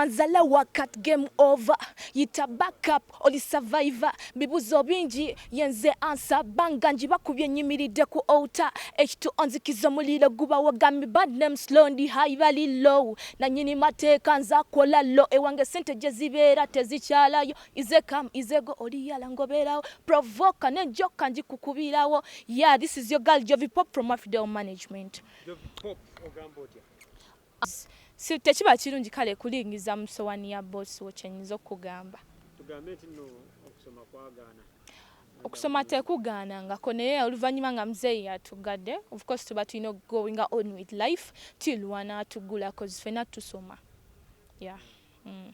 Mazala wakat game over yita back up oli survivor bibuzo bingi yenze answer banga njibakubye nyimiridde ku outer ekitu onzikiza omuliro gubawo gami bad name slow ndi high bali low nanyini mateeka nza kola low ewange sente gyezibeera tezikyalayo ize kam ize go oli yala ngoberawo provoka ne joka njikukubirawo yeah this is your girl jovi pop from afidel management jovi pop ogamba otya Tekiba kirungi kale kulingiza mu sowani ya boss wo kyenyinza okukugamba. Tugambe nti no okusoma kwagaana. Okusoma tekugaana ngako naye oluvanyuma nga mzeyi yatugade of course tuba tulina okugoinga on with life tuiluwa natugula cause fena tusoma yeah. Mm.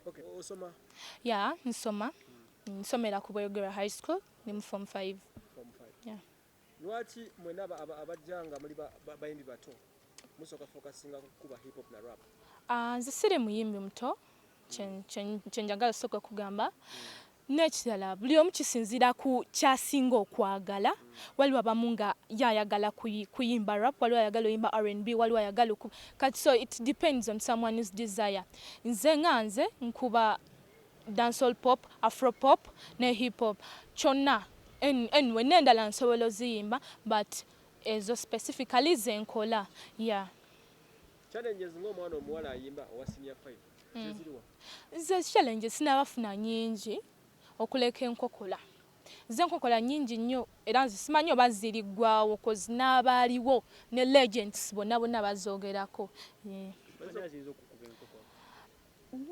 Okay. Osoma? Yeah, nsoma. Nsomera ku Bweyogerwa High School, ni mu form 5. Form 5. Yeah. Lwaki mwena abajja nga muli bayimbi bato musooka focusinga kukuba hip hop na rap? Ahh nze siri muyimbi muto kyenjagala osooka okugamba hmm. nekirala buli omu kisinziira ku kyasinga okwagala hmm. waliwo abamu nga ye ayagala kuyimba rap waliwo ayagala oyimba rnb waliwo ayagala kati so it depends on someone whose desire nze nga nze nkuba dancehall pop, afro pop ne hip hop kyonna anyway nendala nsobola oziyimba but ezo specifically zenkola yeah. Challenges nga omwana omuwala ayimba owa senior five hmm. zeziriwa? Nze challenges sinabafuna nyingi okuleka enkokola ze nkokola nyingi nnyo era nze simanyi oba ziriggwawo koz n'abaaliwo ne legends bonna bonna bazoogerako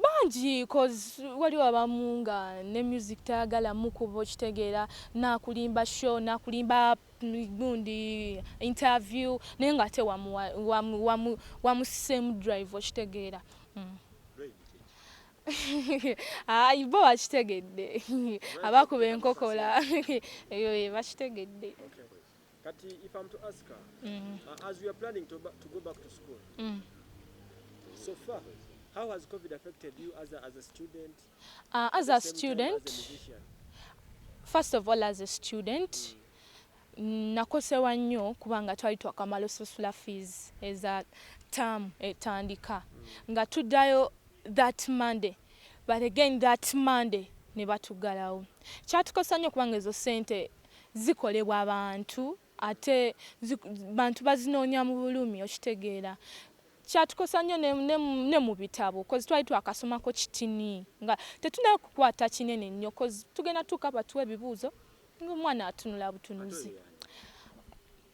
Bangi coz waliwo abamu nga ne music tayagala mukuba okitegeera nakulimba show nakulimba gundi interview naye nga ate wamusiseemu drive okitegeera ayi bo bakitegedde abakuba enkokola eyo bakitegedde. Kati if I'm to ask her, mm. uh, as we are planning to, to go back to school, mm. so far, how has COVID affected you as a, as a student? Uh, as a student, as a first of all as a student, mm. nakosewa nnyo kubanga twali twakamala osasula fees eza term etandika nga tuddayo that monday but again that monday ne batuggalawo kyatukosa nnyo kubanga ezo sente zikolebwa bantu ate bantu bazinoonya mu bulumi okitegeera kyatukosa nnyo ne mu bitabo kozi twali twakasomako kitini nga tetunaba kukwata kinene nnyo kozi tugenda tuuka batuwa ebibuuzo ng'omwana atunula butunuzi.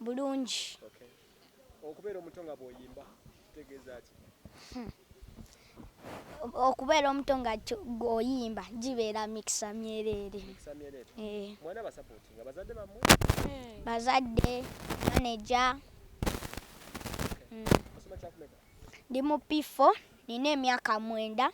bulungi. Okubeera omuto nga bw'oyimba kitegeeza ki? Hmm. Okubeera omuto nga oyimba gibeera mikisa myereere. Eh. Mwana basapooti nga bazadde bammwe? Hmm. Bazadde, maneja. Hmm. Ndi mu P4 nina emyaka mwenda.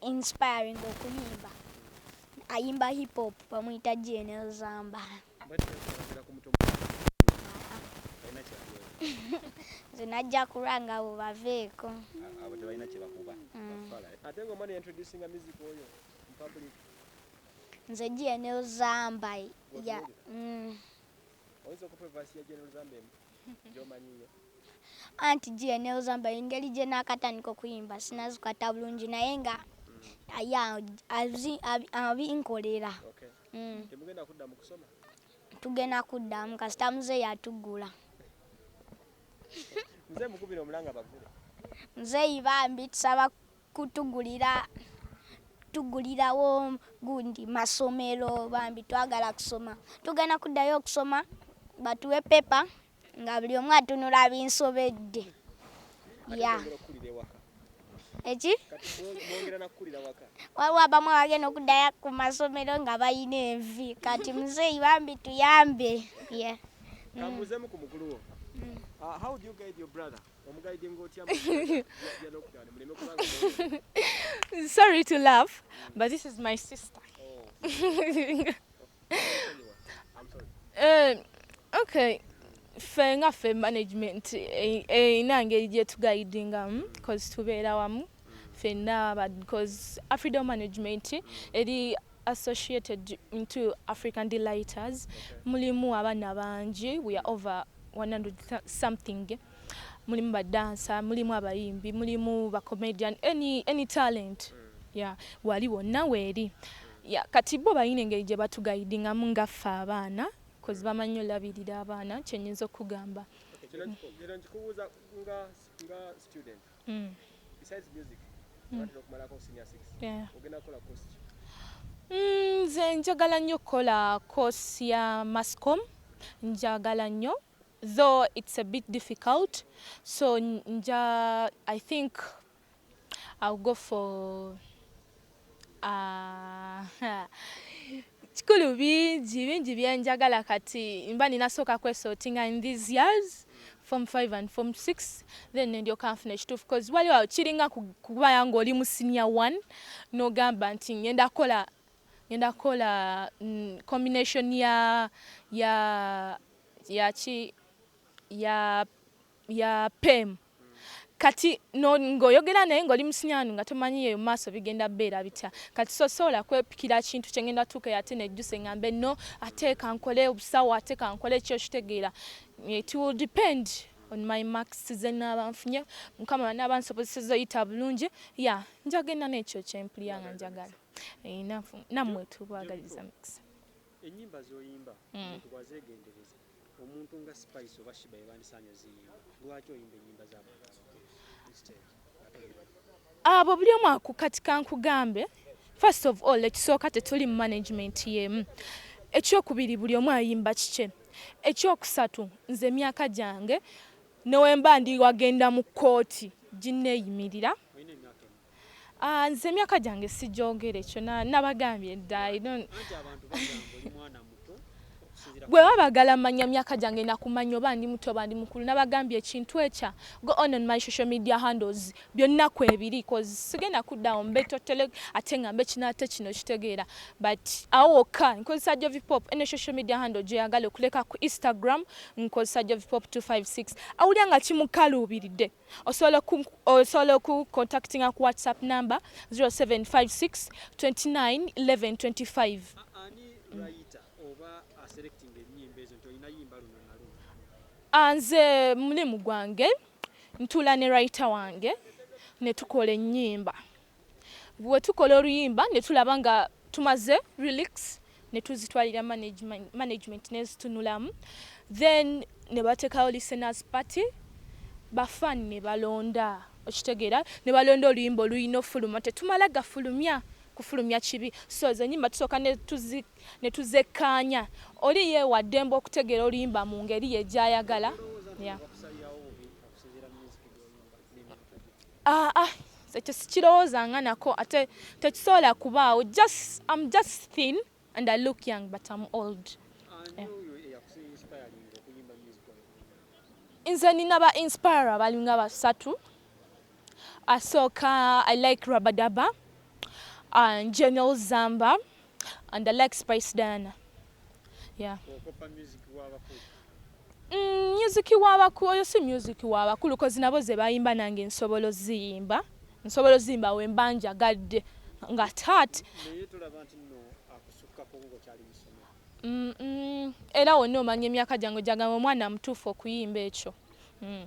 inspiring okuyimba ayimba hip hop bamuyita gnl zamba nze najja kulwa nga abo baveeko abo tebalina kyebakuba mm. ate nga omwana yaintroducinga music oyo mupublic nze gnl zamba mm. oyinza okupevasi ya gnl zamba emu gyomanyiyo anti gyenewzamba engeri gyenakatandika okuyimba sinazikata bulungi naye nga aya abinkolera mm. tugenda kuddamu kasita muze yatugula muzeyi bambi tusaba kutugulira tugulirawo gundi masomero bambi twagala kusoma tugenda kuddayo okusoma batuwe pepa nga buli omu atunula binsobedde ya eki waliwo abamu abagenda okuddayo ku masomero nga balina envi kati muzeeyi bambi tuyambe yeah. mm. Sorry to laugh, but this is my sister. Oh. uh, okay. ffe nga ffe management eh, eh, ina ngeri gyetugaidingamu hmm, cause tubeera wamu fenna bcause afrido management eri associated into African delighters mulimu abaana bangi we are over 100 something mulimu badansa mulimu abayimbi mulimu bacomedian any, any talent yeah, wali wonna weeri yeah, kati bo balina engeri gye batugaidingamu nga ffe abaana kozi bamanyi olabirira abaana kyenyinza okugamba era nkikubuuza nga student mm. besides music mm. batera okumalako senior 6 yeah. ogenda kukola course ki mm, nze mm, njagala nnyo okukola course ya mascom njagala nnyo though it's a bit difficult so nja i think i'll go for Kikulu bingi bingi byenjagala kati mba nina sooka kwesortinga in these years form 5 and form 6 then nendyoka nfuna ekituufu bcause waliwo kiringa kubaya ng'oli mu senior 1 n'ogamba nti ngenda kukola ngenda kukola mm, combination ya ya yaki ya ya pem kati no ngoyogera naye ngoli musinyanu nga tomanyi eyo maaso bigenda beera bitya kati so sola kwepikira kintu kyengenda tuka yate nejjuse ngambe no ateka nkole obusawo ateka nkole ekyo kitegeera it will depend on my marks zenaba nfunye mukama banaba nsobozeseza oyita bulungi ya njagenda nekyo kyempulira nga njagala eh, namwe tubagaliza mikisa Enyimba zoyimba mm. omuntu bwazegendereza omuntu nga Spice oba Shiba yebandisaanye oziyimba lwaki oyimba enyimba zabantu abo buli omu akukatika nkugambe first of all ekisooka tetuli mu management yemu ekyokubiri buli omu ayimba kikye ekyokusatu nze emyaka gyange newemba ndi wagenda mu kkooti ginneeyimirira Ah, nze emyaka gyange sigyogere kyona nabagambye dda gwe babagala manya myaka gyange nakumanya oba ndi muto oba ndi mukulu nabagambye ekintu ekya go on on my social media handles byonna kwebiri cause sigenda kuddawo mbe totele ate nga mbe kino ate kino kitegeera but awo wokka nkozesa jovipop eno social media handle gyeyagala okuleka ku instagram nkozesa jovipop 256 awulira nga kimukaluubiridde Osobola ku osobola oku contactinga ku WhatsApp number 0756 29 11 25. Ani writer oba aselecting enyimba ezo nti olina yimba luno na luno? Ah, nze mulimu gwange ntuula ne writer wange ne tukola enyimba. Bwetukola oluyimba netulaba nga tumaze relics netuzitwalira management nezitunulamu then nebatekawo listeners party ba fan nebalonda okitegera nebalonda oluyimba oluyina ofuluma tetumala gafulumya kufulumya kibi so zenyimba tusoka netuzekanya oli ye wadembe okutegera oluyimba mungeri ye gyayagala yeah. Ah, ah, ekyo sikirowoozanga nako ate tekisobola kubaawo just am just thin and i look young but am old yeah. nze nina ba inspire abalinga basatu asooka i like rabadaba uh, general zamba and I like Spice Diana. Yeah. Mm, music wabakulu oyo si music wabakulu kozi nabo ze bayimba nange nsobola oziyimba nsobola oziyimba we mba njagadde nga tat mm, mm, era wonna omanya emyaka gyange gyagamba omwana mutuufu okuyimba ekyo mm.